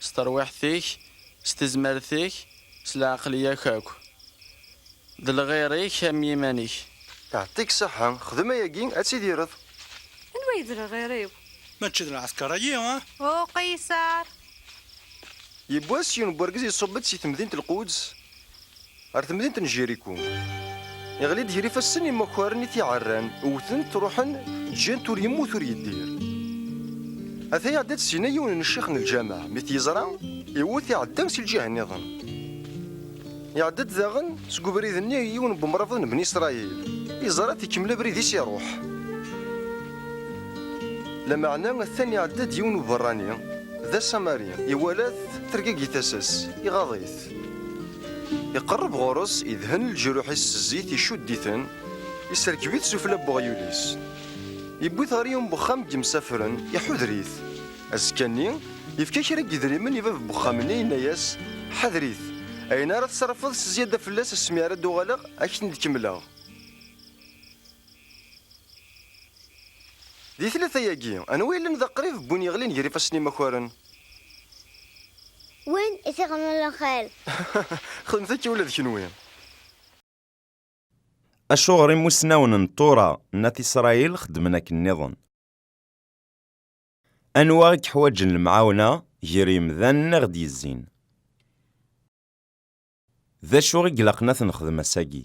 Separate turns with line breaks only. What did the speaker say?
S terwiḥt-ik, s tezmert-ik, s lɛeqliya-k akk. D lɣir-ik am yiman-ik. Iɛeṭṭi-k
ṣeḥḥa, xdem ayagi ad tidireḍ. Anwa ay d
lɣir-iw? Mačči d
lɛesker-agi, ah? Uqisar!
Yiwwas, yiwen n wergaz iṣubb-d si temdint Lquds. Ar temdint n Jiriku. Iɣli-d gar ifassen imakaren i t-iɛerran, wwten-t, ruḥen, ǧǧan-t ur yemmut ur yeddir. Ata iɛedda-d syin yiwen n ccix n lǧameɛ, mi t-yeẓra, iwwet iɛedda si lǧiha nniḍen. Iɛedda-d daɣen seg ubrid-nni yiwen n wemrabeḍ n Bni Isṛayil, iẓra-t ikemmel abrid-is iṛuḥ. Lameɛna atan iɛedda-d yiwen n uberrani, d asamari, iwala-t, tergagi tasa-s, iɣaḍ-it. Iqerreb ɣur-s, idhen leǧruḥ-is s zzit, icudd-iten, iserkeb-it sufella n weɣyul-is. Iwwi-t ɣer yiwen n wexxam n yemsafren, iḥuder-it. Azekka-nni, yefka kra n yedrimen i bab n wexxam-nni, yenna-as, Ḥader-it, ayen ara tsarfeḍ s zyada fell-as asmi ara d-uɣaleɣ, ad k-ten-id-kemmleɣ. Di tlata-agi, anwa yellan d aqrib n win yeɣlin gar ifassen imakaren?
Win i t-ixedmen lxir. Xedmet
akka ula d kenwi.
Acuɣer imusnawen n Tura n At Isṛayil xeddmen akken nniḍen? Anwa i yeḥwaǧen lemɛawna ger yemdanen i ɣ-d-yezzin? D acu i ilaqen ad t-nexdem ass-agi?